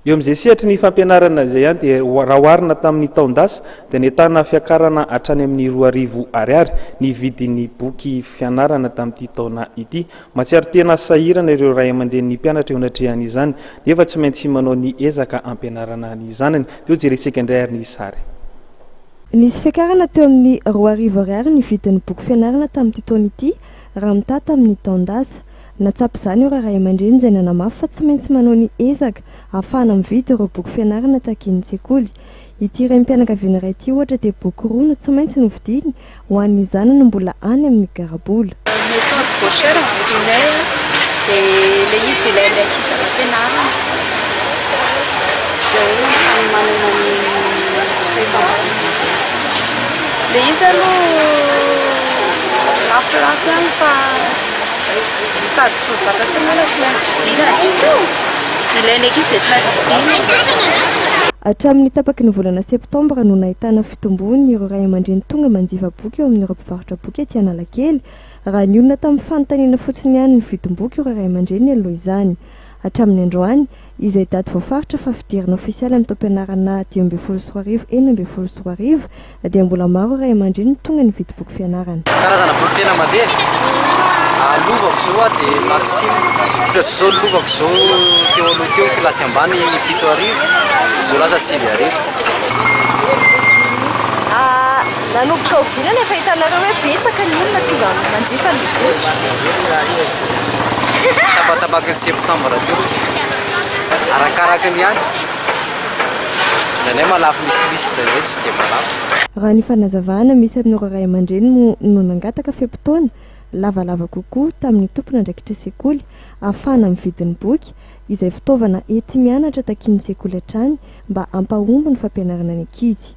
Eo amin'izay sehatry ny fampianarana izay ihany dia raha oharina tamin'ny taon-dasa dia nentana fiakarana hatrany amin'ny roa arivo ariary ny vidin'ny boky fianarana tamin'ity taona ity. Mahatsiaro tena sahirana ireo ray aman-drenin'ny mpianatra eo anatrehan'izany nefa tsy maintsy manao ny ezaka hampianarana ny zanany. Toa jerentsika indray ary ny sary. Nisy fiakarana teo amin'ny roa arivo ariary ny vidin'ny boky fianarana tamin'ity taona ity raha mitaha tamin'ny taon-dasa. Nahatsapa izany ireo ray aman-dreny izay nanamafy fa tsy maintsy manao ny ezaka ahafahana mividy ireo boky fianarana takian'ny sekoly. Ity renim-pianakaviana iray ity ohatra dia boky roa no tsy maintsy novidiany ho an'ny zanany mbola any amin'ny garabola. Ny akanjo gaucheur novidinay dia ilay izy ilay andeha ankisaka am-pianarana. Dia hoe ny fanomanana ny fehim-panjakana. Ilay izy aloha lafolafo ihany fa. Mitady trondro vata koa moa tsy maintsy fidina e! Ilain'ny ankizy dia tsy maintsy fidina. Hatramin'ny tapaky ny volana septambra no nahitana fitombony ireo ray aman-dreny tonga manjifa boky eo amin'ireo mpivarotra boky ety Analakely, raha nionona tamin'ny fanontaniana fotsiny ihany ny vidimboky ireo ray aman-dreny aloha izany. Hatramin'ny androany, izay daty voafaritra fa fidirana ofisialy amin'ny taom-pianarana dimy ambin'ny folo sy roa arivo enina ambin'ny folo sy roa arivo, dia mbola maro ireo ray aman-dreny no tonga nividy boky fianarana. Karazana boky tena mandeha a lovako izao a dia Maxim, izao lovako izao teo aloha teo kilasy ambany fito arivo, izao lasa sivy arivo. Nanomboka oviana no efa hitanareo hoe betsaka ny olona tonga manjifa ny boky? Tabatabaky ny septambra teo. Arakaraka ny any. Indraindray malafo misimisy, indraindray tsy dia malafo. Raha ny fanazavana misy amin'ireo ray aman-dreny moa no nangataka fe-potoana lavalava kokoa tamin'ny tompon'andraikitra sekoly ahafahana mividy ny boky izay fitaovana enti-mianatra takian'ny sekoly hatrany mba hampahomby ny fampianarana ny ankizy.